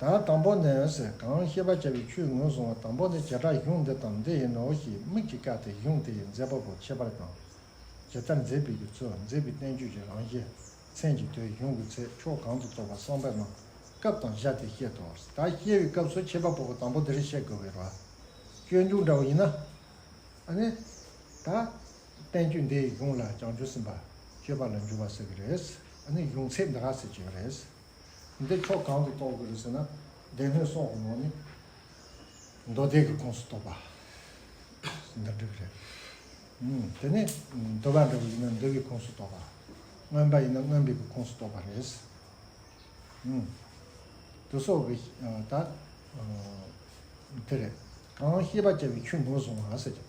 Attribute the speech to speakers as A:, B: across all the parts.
A: དང་དང་པོ་ནི་འོད་ཟེར་གང་ཤེས་པར་བྱ་བའི་ཆུའི་ངོས་བཟུང་བ་དང་པོ་ནི་བྱེ་བྲག་གཞུང་འདི་དང་འདི་ཡིན་ནོ་ཞེས་དམིགས་ཀྱིས་བཀག་སྟེ་གཞུང་དེ་ཡི་མཛད་པ་པོ་ཁྱད་པར་དང། ཇི་ལྟར་མཛེས་པའི་གྱི་ཚུལ་མཛེས་པའི་བསྟན་བཅོས་ཀྱི་རང་བཞིན། མཚན་གྱི་དོན་གཞུང་གི་ཚེ་ཕྱོགས་གང་དུ་གཏོགས་པ་གསང་བའི་ནང་སྐབས་དང་བཞག་སྟེ་བཤད་དོ། ད་ཤེས་པའི་སྐབས་སུ་ཁྱད་པར་པོ་པོ་དང་པོ་འདིར་བཤད་དགོས་པའི་རྭསྐྱོན་འཇུག་འདྲ་བ་ཡིན་ན། ནི། ད། བསྟན་བཅོས་འདི་ཡོངས་ལ་བྱང་ཆུབ་སེམས་དཔའ་སྤྱོད་པ་ལ་འགྱུར་བ་ཟེར་གྱི་རེད། ཨ་ནི་ཡོངས་ཚད་འདི་ག་ཟེར་གྱི་རེད། འདི་ཕྱོགས་གང་དུ་གཏོགས་དགོས་རེད་ཟེར་ན། སྡེ་སྣོད་སོགས་ཀྱི་ནང་ནས་མདོ་སྡེ་གི་ཁོངས་སུ་གཏོགས་པ་འདི་འགྲིག་གི་རེད། དེ་ནས་འདུལ་བ་འདྲ་བོ་ཡིན་ན་འདུལ་བའི་ཁོངས་སུ་གཏོགས་པ། རྔོན་པ་ཡིན་ན་རྔོན་པའི་ཁོངས་སུ་གཏོགས་པ་རེད། དུ་སོགས་ཀྱི་ད་དེ་རེད། གང་ཤེས་པ་བྱ་བའི་ཆོས་ངོས་བཟུང་བ་ཟེར་གྱི་རེད།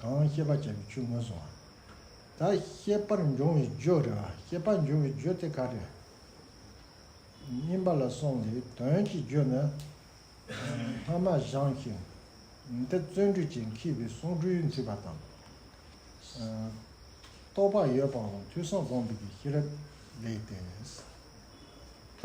A: གང་ཤེས་པར་བྱ་བའི་ཆོས་ངོས་བཟུང་བ། ད་ཤེས་པར་འབྱུང་བའི་རྒྱུ་རེད་བ། ཤེས་པར་འབྱུང་བའི་རྒྱུ་དེ་ག་རེད། བསྙེན་པ་ལ་སོང་སྟེ་དོན་གྱི་རྒྱུ་ནི། ལྷ་མ་བཞེངས་ཤིང་འདི་བརྩོན་འགྲུས་ཀྱིས་འཁྱིལ་བའི་གསུང་སྤྲུལ་མཛེས་པ་དང། རྟོགས་པ་ཡོད་པའང་ཐོས་བསམ་སྒོམ་པའི་ཤེས་རབ་ལས་ཏེ། ད་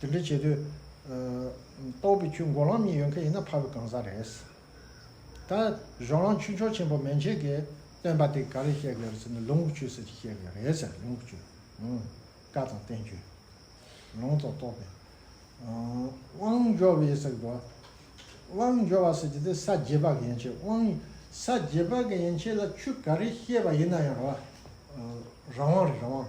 A: དེ་འདྲ་བྱེད་དུས། ལྟོགས་པའི་ཆུ་མགོ་ལམ་གཉིས་ཡོད་མཁན་ཡིན་ན་ཕར་བའི་གང་ཟག་རེད། ད། གཞོན་ལམ་ཆུ་མཆོག་ཆེན་པོ་མན་ཆད་ཀྱིས་སྟོན་པ་དེ་ག་རེ་བཤད་དགོས་རེད་ཟེར་ནས་ལུང་ཆུ་ཟེར་གྱི་བཤད་དགོས་རེད་ཟེར་ལུང་ཆུ། བཀའ་དང་བསྟན་བཅོས། ལུང་རྟོགས་རྟོགས་པའི། དབང་འབྱོར་བའི་ཟེར་གི་འདུག་བ། དབང་འབྱོར་བ་ཟེར་གྱི་དེ་ས་བརྒྱད་པ་གི་ཡན་ཆད་དབང། ས་བརྒྱད་པ་གི་ཡན་ཆད་ལ་ཆུ་ག་རེ་བཤད་པ་ཡིན་ན་ཡང་རང་དབང་རེད་རང་དབང།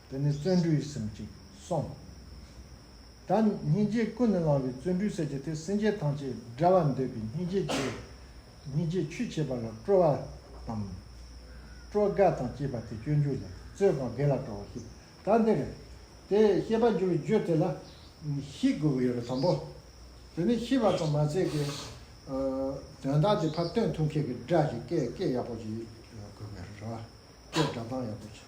A: འདི་ནི་བརྩོན་འགྲུས་གསུམ་གཅིག་གསུངས། ད་སྙིང་རྗེ་ཀུན་ནས་བསླང་བའི་བརྩོན་འགྲུས་གསེར་གྱི་ཐིག་སེང་ཆེན་ཐང་ཆད་འདྲ་བར་འདོད་པའི་སྙིང་རྗེ་ཆེ། སྙིང་རྗེ་ཆུ་ཆེ་བ་ལ་སྤྲོ་བ་དང། སྤྲོ་དགའ་དང་བཅས་པ་དེ་སྤྱོད་འཇུག་ལས་རྩོལ་གང་བདེ་ལ་སྤྲོ་བ་ཤེས་པ་ད་འདིར། དེ་ཤེས་པར་འགྱུར་བའི་རྒྱུ་དེ་ལ་ཤེས་དགོས་པ་ཡོད་པ་དང་པོ། དེ་ནས་ཤེས་པ་ཙམ་མ་ཟད་ཀྱི། དོན་དག་དེ་ཕར་སྟོན་ཐུབ་མཁན་གྱི་སྒྲ་ཞིག་སྐད་སྐད་ཡག་པོ་ཞིག་དགོས་པའི་རེ་བ། སྐད་སྒྲ་གདངས་ཡག་པོ་ཞིག།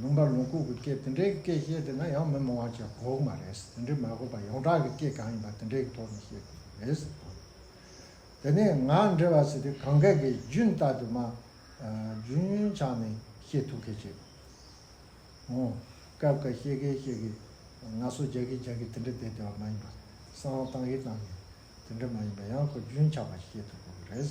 A: ལུང་པ་ལུང་ཁུག་གི་སྐད་དེ་འདྲའི་སྐད་བཤད་དེ་ན་ཡང་མི་མང་བ་ཅག་གོ་གི་མ་རེད། དེ་འདྲའི་མ་གོ་བར་ཡོངས་གྲགས་ཀྱི་སྐད་གང་ཡིན་པ་དེ་འདྲའི་གི་ཐོག་ནས་བཤད་དགོས་ཀྱི་རེད། དེ་ནས་ང་འདྲ་བ་ཞིག་གིས་གང་སྐད་ཀྱི་རྒྱུན་ལྟ་དུ་མ། རྒྱུན་ཆགས་ནས་བཤད་ཐུབ་གི་རེད། ངོ། སྐབས་འགའ་བཤད་གི་བཤད་གི། ང་སོ་རྒྱག་གི་རྒྱག་གི་དེ་འདྲ་བསྡད་བསྡད་པ་མ་ཡིན་པ། གསང་བ་བཏང་གི་བཏང་གི། དེ་འདྲ་མ་ཡིན་པ་ཡང་ཁོ་རྒྱུན་ཆགས་པ་ཞིག་བཤད་ཐུབ་དགོས་ཀྱི་རེད།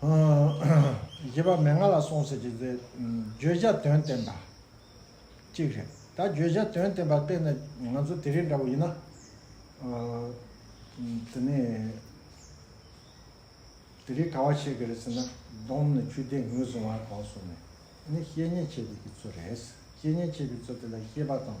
A: བཞི་པ་མན་ངག་ལ་སོང་ཟེར་གྱི་དེ་བརྗོད་བྱ་དོན་བསྟན་པ་གཅིག་རེད་ད་བརྗོད་བྱ་དོན་བསྟན་པ་དཔེ་ན་ང་ཚོ་དེ་རིང་འདྲ་བོ་ཡིན་ན་དེ་ནས་དེ་རིང་ག་བ་བཤད་གི་རེད་ཟེར་ན་སྡོམ་ནས་ཆུ་ཟླས་ངུས་སོང་བ་གང་སོང་ནས་དེ་ནས་བཤེས་གཉེན་བྱེད་ཀྱི་གི་ཚོད་རེད་བཤེས་གཉེན་བྱེད་ཀྱི་ཚོད་དེ་ལ་ཤེས་པ་དང་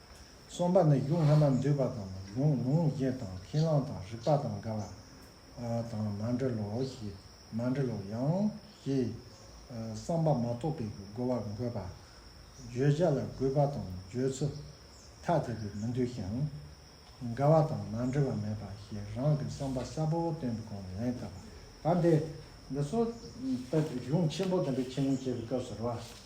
A: གསུམ་པ་ནི་གཞུང་ལྷག་མ་འདུས་པ་དང་གཞུང་ལུང་བཞི་དང་ཁས་བླངས་དང་རིགས་པ་དང་འགལ་བ་དང་མ་འབྲེལ་ལོ་ཞེས་མ་འབྲེལ་ལོ་ཡང་ཞེས་བསམ་པ་མ་གཏོགས་པའི་རྒོལ་བ་འགོད་པ། བརྗོད་བྱ་ལ་གུས་པ་དང་བརྗོད་ཚུལ་ཐ་དད་པའི་མི་འདུས་ཤིང། འགལ་བ་དང་མ་འབྲེལ་བ་མེད་པ་ཞེས་རང་གི་བསམ་པ་གསལ་པོ་བཏོན་པའི་སྒོ་ནས་ལན་བཏབ་པ། གང་དེས། འདི་སོགས་ལྟ་བུའི་གཞུང་ཆེན་པོ་བདུན་པའི་ཁས་ལེན་བྱེད་པའི་སྐབས་སུ་རུང་བ།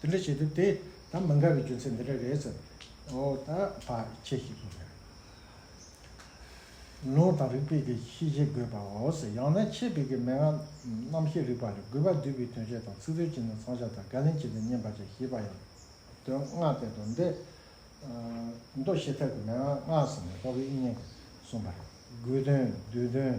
A: དེ་འདྲ་བྱེད་ཐུབ་དེ་ད་མི་འགའ་རེ་རྒྱུ་མཚན་འདི་འདྲ་རེད་ཟེར། ཨོ་ད་བ་ཁྱེད་ཤེས་ཀྱི་རེད། ལུང་དང་རིགས་པས་ཀྱི་ཤེས་བྱེད་དགོས་པའོ་ཟེར་ཡང་ན་ཁྱེད་བོད་ཀྱི་མན་ངག་རྣམ་ཤེས་རིག་པ་ལས་དགོས་པ་འདུས་པའི་དོན་བཤད་དང་ཚིག་དོན་གྱི་ནང་ཚང་བྱ་དང་བཀའ་ལན་བྱེད་དེ་བསྙེན་པ་བྱ་ཞེས་པ་ཡང་དོན་སྔ་དེ་དང་འདི་མདོ་བཤད་ཐབས་ཀྱི་མན་ངག་སྔགས་སུ་མི་གཏོགས་པའི་དབྱིངས་ཡིན་གསུངས་པ་རེད་དགོས་དོན་བསྡུས་དོན།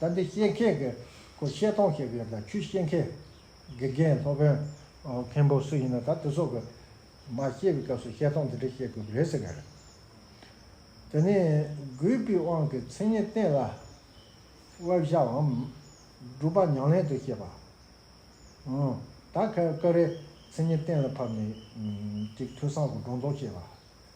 A: ད་འདི་ཤེས་མཁན་གྱི་སྐོར་བཤད་སྟོང་བཤད་ཀྱི་ཡོད་ད་ཁྱོད་ཤེས་མཁན་དགེ་རྒན་སློབ་དཔོན་མཁན་པོ་སུ་ཡིན་ན་ད་དེ་ཚོ་གི་མ་ཤེས་པའི་སྐབས་སུ་བཤད་སྟོང་འདི་འདྲ་བཤད་དགོས་པ་རེད་ཟེར་གྱི་རེད། དེ་ནས་གུས་པའི་དབང་གི་མཚན་ཉིད་བསྟན་ལ། དབལ་བཞགའམ་སྒྲུབ་པ་མྱང་ལེན་དུ་བཤད་པ། ད་ཀ་རའི་མཚན་ཉིད་བསྟན་ལ་ཕབ་ནས་ཅིག་ཐོས་བསམ་གྱི་སྒྲོ་འདོགས་བཅད་པ།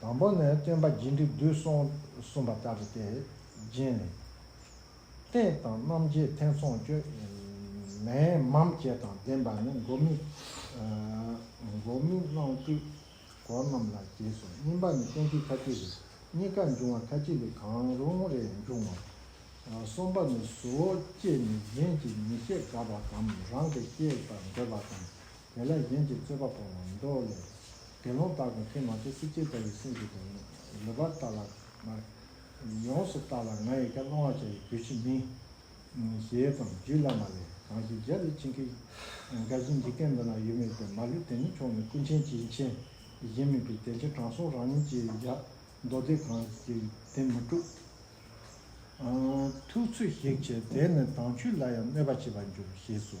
A: དང་པོ་ནི་སྟོན་པ་རྒྱས་འབྲིང་བསྡུས་གསུངས་གསུངས་པ་ལྟར་ཏེ། རྗེས་ནི། རྟེན་དང་རྣམ་འབྱེད་ཐེ་ཚོམ་སྐྱོ། མེའི་འམ་བཅས་དང་ལྡན་པ་ནི་མགོ་མི། མགོ་མི་སྣང་སྤྲུལ་སྐོར་རྣམས་ལ་རྗེས་སུ་སྨིན་པ་ནི་གཏན་ཚིགས་ཁ་ཅིག་རེ། གཉིས་ཀ་འབྱུང་བ་ཁ་ཅིག་ལས་གང་རུང་རེ་འབྱུང་ངོ། གསུམ་པ་ནི་གཟུ་བོ་སྐྱེས་ནས་གཞན་གྱིས་མི་ཤེས་དགའ་བ་དང་རང་གིས་སྐྱེས་པར་འདོད་པ་དང། དེ་ལས་གཞན་གྱི་རྩོད་པ་པོ་ལ་མདོ་ལས། དགེ་སློང་དག་གིས་ཁྱོད་མ་ཚད་སྲིད་སྐྱེས་དག་གི་སེམས་ཀྱི་དོན། ལེགས་པར་བརྟགས་ལ། ཡོངས་སུ་བརྟགས་ལ་ང་ཡི་ག་སློང་བར་བྱ་བའི་དུས་ཕྱིས་མིན། ཞེས་དང་རྒྱུད་བླ་མ་ལས་གང་ཞིག་རྒྱལ་བའི་བྱིན་གྱིས་རྒ་བཞིན་འཇིག་རྟེན་འདི་ན་ཡོད་མོད་ཀྱང་མ་ལུས་དེ་ཉིད་ཕྱོགས་མེད་ཀུན་མཁྱེན་གྱི་མཁྱེན་གཞན་མིན་པས་དེ་འདྲའི་དྲང་སྲོང་རང་ཉིད་ཀྱིས་ཀྱང་མདོ་སྡེ་གང་ཞིག་དེ་མི་དཀྲུག། ཐུགས་ཚོད་ཞིག་བྱས་དེས་ནི་དྭངས་བཅུད་ལ་ཡང་གནོད་པ་བྱེད་པར་འགྱུར་ཞེས་སོ།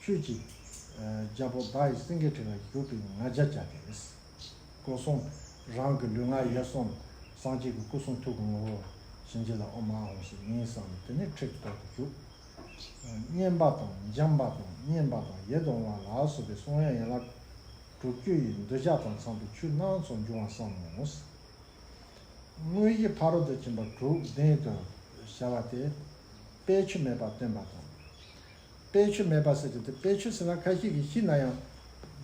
A: ཁྱོད་ཀྱིས། རྒྱལ་པོ་བདག་ཡིད་སེང་གེའི་དྲི་ལ་བཞུགས་པའི་ང་རྒྱལ་བཅའ་སྟེ། སྐུ་གསུང་རང་གི་ལུས་ངག་ཡིད་གསུམ་སངས་རྒྱས་ཀྱི་སྐུ་གསུང་ཐུགས་ཀྱི་ངོ་བོར་བྱིན་གྱིས་ལ་ཨོ་མ་ཧོ་ཞེས་མིང་བསམས་ལ་དེ་ནས་ཁྲེགས་ཐོག་ཏུ་བཞུགས། སྙན་པ་དང་འཇམ་པ་དང་སྙན་པ་དང་ཡེ་གདོང་བ་ལ་སོགས་པའི་གསུང་དབྱངས་ཡན་ལག་དྲུག་བཅུ་ཡིས་འདོད་ཆགས་དང་ཚངས་པའི་ཆུ་སྣ་ཚོགས་འབྱུང་བར་བསམ་མོ། དངོས་གཞི་ཕ་རོལ་ཏུ་ཕྱིན་པ་དྲུག་ལྡན་དུ་བྱ་བ་སྟེ། དཔེའི་ཆུ་མེད་པར་སྟོན་པ་དང། དཔེ་ཆུ་མེད་པ་ཟེར་གྱི་འདུག་དཔེ་ཆུ་ཟེར་ན་ཁ་ཤས་ཀྱིས་ཤི་ན་ཡང།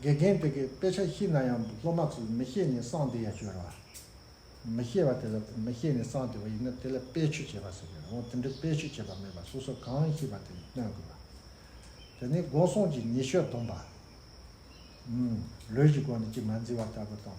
A: དགེ་རྒན་དེ་གས་དཔེ་ཆ་ཤི་ན་ཡང་སློབ་མ་ཚོས་མི་ཤེས་ནས་གསང་དེ་ཡ་བཅོས་རོགས་ཨ། མི་ཤེས་པ་དེ་ལ་མི་ཤེས་ནས་གསང་དེ་བ་ཡིན་ན་དེ་ལ་དཔེ་ཆུ་བྱས་པ་ཟེར་གྱི་རེད་འོང་དེ་འདྲའི་དཔེ་ཆུ་བྱས་པ་མེད་པ་སོ་སོ་གང་ཤེས་པ་དེ་སྟོན་དགོས་པ། དེ་ནས་སྒོ་སྲུང་གྱིས་ཉི་ཤོས་བསྡོམས་པ། ལུས་ཀྱི་སྒོ་ནས་གཅིག་མ་འཛིན་བ་ལྟ་བུ་དང།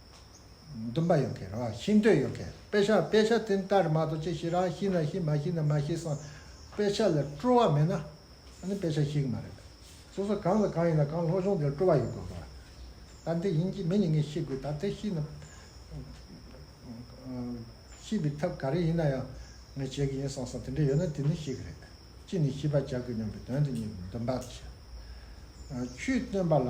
A: འདུན་པ་ཡོད་མཁན་རང་ཤི་འདོད་ཡོད་མཁན་དཔེ་ཆ་དཔེ་ཆ་དེ་ལྟར་མ་གཏོགས་ཅི་ཞིག་རང་ཤི་ན་ཤི་མ་ཤི་ན་མ་ཤི་སོང་དཔེ་ཆ་ལ་སྤྲོ་བ་མེད་ན་ཨ་ནི་དཔེ་ཆ་ཤི་གི་མ་རེད། སོ་སོ་གང་དང་གང་ཡིན་ན་གང་སློབ་སྦྱོང་དེར་སྤྲོ་བ་ཡོད་དགོས་གོ། ད་འདི་ཡིན་གྱི་མི་ཉིད་ངས་ཤི་དགོས་ད་དེ་ཤི་ན། ཤི་བའི་ཐབས་ག་རེ་ཡིན་ན་ཡང་ངས་བྱེད་ཀྱི་ཡིན་སོང་སོང་དེ་འདྲ་ཡོད་ན་དེ་ནི་ཤི་གི་རེད། ཅི་ནས་ཤི་བར་བྱ་དགོས་སྙམ་པའི་དོན་དེ་ཉིད་འདུན་པ་དེ་བྱེད། ཆུའི་སྟོན་པ་ལ།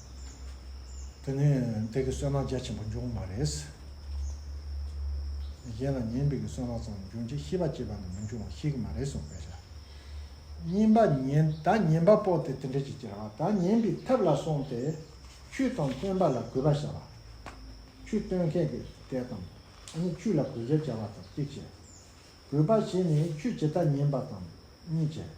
A: དེ་ནི་བདག་གི་སོན་ལག་རྒྱ་ཆེན་པོ་འབྱུང་བ་མ་རེད། གཞན་ལ་ཉན་པའི་སོན་ལག་ཙམ་འབྱུང་རྗེས་ཤི་བ་སྐྱེས་པ་ནི་མི་འབྱུང་བ་ཞིག་གི་མ་རེད་གསུངས་པའི་ཕྱིར། གཉིས་པ་ཉན་བདག་ཉན་པ་པོ་དེ་དེ་འདྲ་ཞིག་ཅེས་རང་བདག་ཉན་པའི་ཐབས་ལ་སོང་སྟེ་ཆུ་དང་སྟོན་པ་ལ་གུས་པར་བྱ་བ། ཆུ་སྟོན་མཁན་གྱི་དད་དམ་ནི་ཆུ་ལ་གུས་ཞབས་བྱ་བ་དང་གཅིག་བྱས། གུས་པར་བྱས་ནས་ཆུ་ཇི་ལྟར་ཉན་པ་དང་གཉིས་བྱས།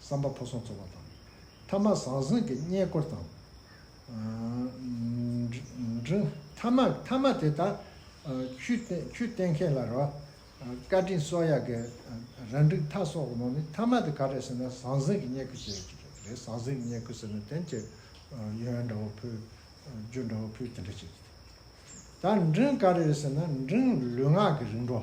A: བསམ་པ་ཕོ་སོང་ཚོར་བ་དང། ཐ་མག་ཟང་ཟིང་གི་བསྙེན་བཀུར་དང། ཐ་མག་ཐ་མ་དེ་དག་ཆུས་བསྟེན་མཁན་ལ་ར་བཀའ་དྲིན་གསོལ་ཡག་གི་ར་འགྲིག་མཐའ་སོགས་མང་ནི་ཐ་མ་དེ་ག་རེད་ཟེར་ན་ཟང་ཟིང་གི་བསྙེན་བཀུར་བྱེད་ཡོད་ཀྱི་རེད་ཟང་ཟིང་གི་བསྙེན་བཀུར་ཟེར་ན་དེ་འདྲ་ཡོན་འདྲ་བོ་ཕུལ་རྒྱུ་འདྲ་བོ་ཕུལ་དེ་འདྲ་བྱེད་ཀྱི་རེད། ད་འབྲིང་ག་རེ་རེད་ཟེར་ན་འབྲིང་ལུས་ངག་གི་རིག་འགྲོ།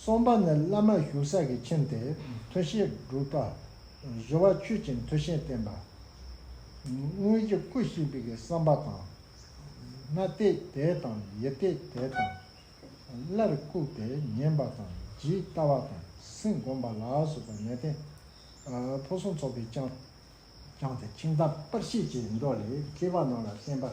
A: གསུམ་པ་ནི་བླ་མ་བཞུགས་ས་གི་ཁྱིམ་དེ་མཐུ་ཤེས་སྒྲུབ་པ། བཞི་བ་ཆོས་ཀྱི་མཐུ་ཤེས་བསྟེན་པ། དངོས་ཀྱི་སྐུ་གཤེགས་པའི་བསམ་པ་དང། སྣ་གཏད་དེ་དང་ཡིད་གཏད་དེ་དང། སླར་བཀུག་སྟེ་ཉན་པ་དང་ཇི་ལྟ་བ་དང་སེམས་བསྒོམ་པ་ལ་སོགས་པ་གནས་བརྟན་ཕུན་སུམ་ཚོགས་པའི་བསྐྱངས། བསྐྱངས་ཏེ་ཁྱིམ་བདག་པར་ཤེས་ཀྱི་མདོ་ལས་སྐྱེས་པ་རྣམས་ལ་བསྟན་པ།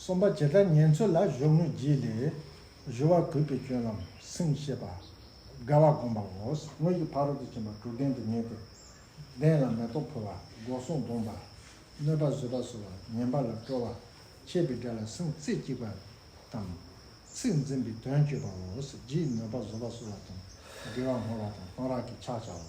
A: གསུམ་པ་ཇི་ལྟར་ཉན་ཚུལ་ལ་གཞོགས་དངོས་རྗེས་ལས་གཞོལ་བར་གུས་པས་སྐྱོན་ལམ་སེང་ཤེས་པ། དགའ་བ་བསྒོམ་པའོ། དངོས་ཀྱི་ཕ་རོལ་ཏུ་ཕྱིན་པ་དྲུག་ལྡན་དུ་ངེས་ཏེ། གདན་ལ་མེ་ཏོག་ཕུལ་བ་སྒོ་སྲུང་བསྡོམས་པ། གནོད་པ་བཟོད་པ་གསོལ་བ་ཉན་པ་ལ་སྤྲོ་བ། ཆད་པའི་དགྲ་ལ་སེམས་རྩེ་གཅིག་པ་དང། ཚིག་འཛིན་པའི་དོན་སྤྱོད་པའོ། རྗེས་གནོད་པ་བཟོད་པ་གསོལ་བ་དང་འབྲེལ་བ་བསྔོ་བ་དང་གཏོང་རག་གི་ཕྱག་བྱའོ།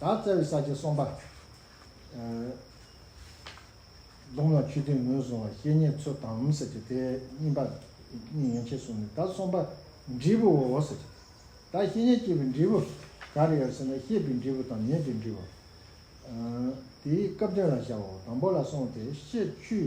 A: བདག་རྩ་བའི་ས་བཅད་གསུམ་པ། གདུང་ལ་ཆུ་ཐིགས་ངོས་བཟུང་བ་བཤེས་གཉེན་ཚུལ་དམ་ཟེར་གྱི་དེ་གཉིས་པ། གཉིས་ཡན་ཆད་གསུངས་ནས་ད་གསུམ་པ། འབྲས་བུ་འོ་ཟེར་གྱི། ད་བཤེས་གཉེན་སྐྱེས་པའི་འབྲས་བུ་ག་རེ་ཡོད་ཟེར་ན་ཤེས་པའི་འབྲས་བུ་དང་མྱོས་པའི་འབྲས་བུ། དེའི་སྐབས་དོན་ལ་བྱའོ་དང་པོ་ལ་གསུངས་ཏེ་ཤེས་ཆུའི་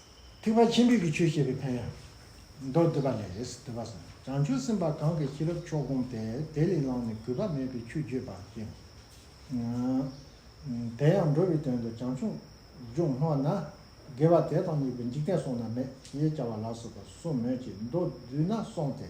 A: ཐེག་པ་ཆེན་པོའི་གྱི་ཆོས་བཤད་པའི་ཕན་ཡོན། མདོར་བསྡུས་པ་ལས། དུས་བབ། བྱང་ཆུབ་སེམས་དཔའ་གང་གིས་ཤེས་རབ་མཆོག་བསྒོམས་ཏེ་དེ་ལས་ལངས་ནས་གུས་པ་མེད་པའི་ཆོས་བརྗོད་པ་བཞིན། དེ་ཡང་འགྲོ་བའི་དོན་དུ་བྱང་ཆུབ་སྦྱོང་སྔོ་ན། དགེ་བ་དེ་དང་གཉིས་པའི་འཇིག་རྟེན་སོང་ན་མེད་ཞེས་བྱ་བ་ལ་སོགས་པ་གསུམ་མོད་ཀྱི་མདོར་བསྡུས་ན་སོང་སྟེ།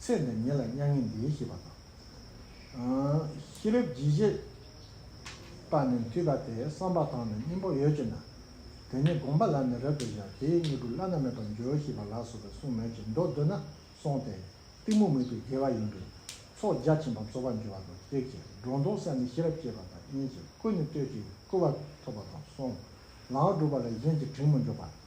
A: ཚེ་འདི་ཉིད་ལ་མྱ་ངན་འདས་ཤེས་པ་དང། ཤེས་རབ་བརྗིད་བྱེད་པ་ནི་མཐུས་དགའ་སྟེ་བསམ་པ་དང་ནི་སྙིང་པོ་ཡོད་ཅེ་ན། དེ་ནི་དགོངས་པ་ལ་ནི་རབ་ཏུ་བཞག་དེའི་སྙིང་པོ་བླ་ན་མེད་པར་འཇོག་ཤེས་པ་ལགས་སོ་བའི་གསུང་མོད་ཀྱི་མདོ་བསྡུ་ན་སོང་སྟེ་གཏི་མུག་མུད་པའི་དགེ་བ་ཡིན་པས་ཚོགས་རྒྱ་ཆེན་པོ་རྫོགས་པར་འགྱུར་བ་དང་བཅས་ཀྱི་སྒྲོ་འདོགས་སད་ནི་ཤེས་རབ་སྐྱེས་པ་དང་གཉིས་ཀྱི་སྐུ་ནི་སྟོད་ཀྱི་སྐུ་བ་ཐོབ་པ་དང་སོང་ལའང་སྒྲུབ་པ་ལ་གཞན་གྱི་དྲིང་མི་འཇོག་པ།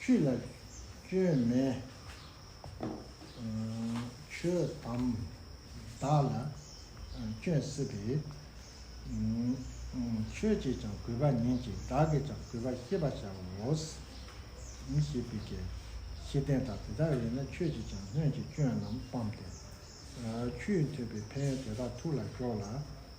A: ཆུ་ལ་སྐྱོན་མེད། ཆུ་དམ་བདག་ལ་སྐྱོན་སྲིད་པས། ཆོས་ཀྱིས་ཀྱང་གུས་པར་ཉན་ཅིག་བདག་གིས་ཀྱང་གུས་པར་ཤེས་པར་བྱའོ། ཞེས་པའི་གལ་ཆེ་ལྡན་དག་དེ་དག་ཡོད་ན་ཁྱོད་ཀྱིས་ཀྱང་སྔོན་གྱི་སྐྱོན་རྣམས་སྤངས་ཏེ། ཆུའི་འཐོལ་པའི་ཕན་ཡོན་དེ་དག་ཐུགས་ལ་ཞོག་ལ།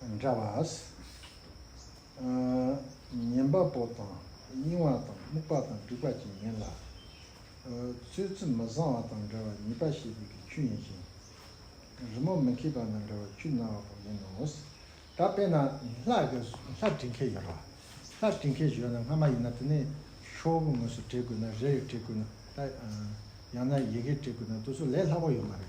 A: འདྲ་བ། ཉན་པ་པོ་དང་གཡེང་བ་དང་རྨུགས་པ་དང་སྡིག་པ་ཅན་ཡིན་ལ། ཚོད་ཚུད་མི་བཟང་བ་དང་འདྲ་བ་ཉེས་པ་བྱེད་པའི་གི་ཆུ་ཡིན་ཞིང། རི་མོ་མི་མཁས་པ་དང་འདྲ་བ་ཆུ་ན་བ་པོ་ཡིན་ནོ། ད་དཔེར་ན་ལྷ་བྲིས་མཁན་ཡོད་རོགས། ལྷ་བྲིས་མཁན་བྱོས་ན་སྔ་མ་ཡིན་ན་དེ་ནས་ཤོག་བུ་ངོས་སུ་བྲིས་དགོས་ན་རེ་རེ་བྲིས་དགོས་ན་ད། ཡང་ན་ཡི་གེ་བྲིས་དགོས་ན་དུ་སུ་ལས་སླ་པོ་ཡོད་མ་རེད།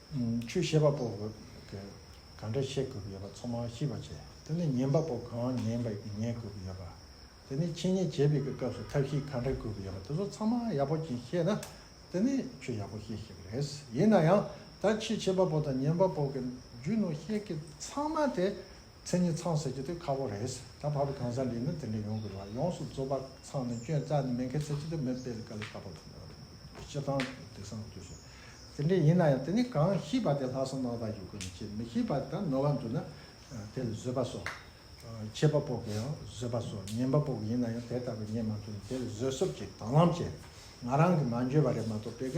A: ཆོས་ཤེས་པ་པོ་བོད་གི་གང་འདྲ་ཤེས་དགོས་ཀྱི་ཡོད་པ་ཚོ་མང་ཤེས་པ་བྱས་དེ་ནས་ཉན་པ་པོ་གང་ཉན་པ་ཉན་དགོས་ཀྱི་ཡོད་པ་དེ་ནས་འཆད་ཉན་བྱེད་པའི་གི་སྐབས་སུ་ཐབས་ཤེས་གང་འདྲ་དགོས་ཀྱི་ཡོད་པ་དེ་ཚོ་ཚང་མ་ཡག་པོ་ཅིག་ཤེས་ན་དེ་ནས་ཆོས་ཡག་པོ་ཤེས་ཤེས་ཀྱི་རེད་ཡིན་ན་ཡང་ད་ཆེས་ཆེས་པ་པོ་དང་ཉན་པ་པོ་གི་རྒྱུ་ནོར་ཤེས་ཀྱི་ཚང་མ་དེ་མཚན་ཉིད་ཚང་ཟེར་རྒྱུ་དེ་ཁག་པོ་རེད། ད་བར་གང་ཟག་འདིས་ནི་དེ་འདྲ་ཡོང་དགོས་ལ་ཡོངས་སུ་རྫོགས་པ་ཚང་ནི་སྐྱོན་རྩ་ནི་མེད་མཁན་ཚེ་ཅི་ཐུབ་མེད་སྤེལ་ག་ལ་ཁག་པོ་དང། སྤྱི་བཏང་དེ་སང་དུས་སུ་དེ་འདྲ་ཡིན་ན་ཡང་དེ་ནི་གང་ཤེས་པ་དེ་ལྷག་བསམ་རྣམ་དག་གིས་དགོས་ནས་བྱེད་མི་ཤེས་པ་དེ་དག་ནོར་བ་འདུག་ན་དེ་ལ་བཟོད་པ་སོགས། ཆད་པ་དཔོག་གི་ཡང་བཟོད་པ་སོགས་ཉན་པ་པོ་ཡིན་ན་ཡང་དེ་ལྟ་བུའི་ཉན་མ་ཐུབ་ནས་དེ་ལ་བཟོད་གསོབ་ཅིག་དྭང་བླངས་བྱས། ང་རང་གིས་མ་འཇོན་པ་རེད་མ་གཏོགས་སྤེལ་ག་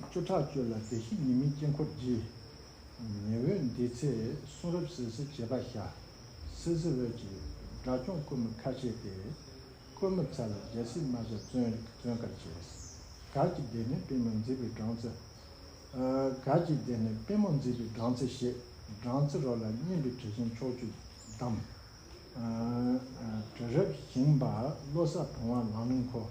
A: བཅུ་ཕྲག་བཅུ་ལ་བདེ་གཤེགས་ཉི་མའི་དཀྱིལ་འཁོར་བགྱི། ཉི་འོད་འདི་ཚེ་གསུང་རབ་ཟིལ་གསིལ་བྱེད་པ་བྱ། སིལ་སིལ་འོད་ཀྱིས་དགྲ་བཅོམ་རྐུན་མ་ཁ་བྱེ་སྟེ། རྐུན་མ་ཚལ་ལ་རྒྱལ་སྲིད་རྨ་བྱ་བཙོན། གར་གྱི་སྡེ་ནི་པད་མོ་མཛེས་པའི་སྦྲང་རྩི། གར་གྱི་སྡེ་ནི་པད་མོ་མཛེས་པའི་སྦྲང་རྩི་བཞེས། སྦྲང་རྩི་རོ་ལ་སྙན་པའི་དྲི་ཞིང་ཕྱོགས་བཅུར་བསྡམ། དྲི་རབ་ཞིང་འབར་བློ་ས་བུང་བ་ལང་ལིང་འཁོར།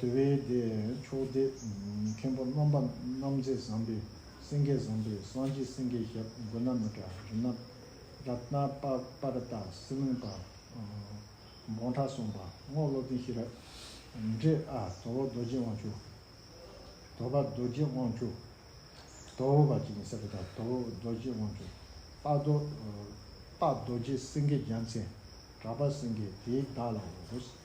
A: དེ་བས་དེས་མཆོག་སྟེ། མཁན་པོ་རྣམ་པ་རྣམ་མཛེས་བཟང་པོས་སེང་གེ་བཟང་པོས་སངས་རྒྱས་སེང་གེའི་ཞབས་མགོན་ན་མི་དྲག་རི་ནག་ར་ཏྣ་པར་བཏགས་སྲིད་བློན་པདྨོ་བྲག་སྲོང་པདྨོ་བློ་ལྡན་ཤེས་རབ་འབྲས་ཨ་དོ་བོ་རྡོ་རྗེ་དབང་ཕྱུག། དོ་བ་རྡོ་རྗེ་དབང་ཕྱུག། དོ་བོ་བ་གཅིག་ཡིན་ས་རེད་ད་དོ་བོ་རྡོ་རྗེ་དབང་ཕྱུག། སྟག་རྡོ་རྗེ་སེང་གེ་རྒྱལ་མཚན་གྲགས་པ་སེང་གེ་དེའི་བདག་ལའོ།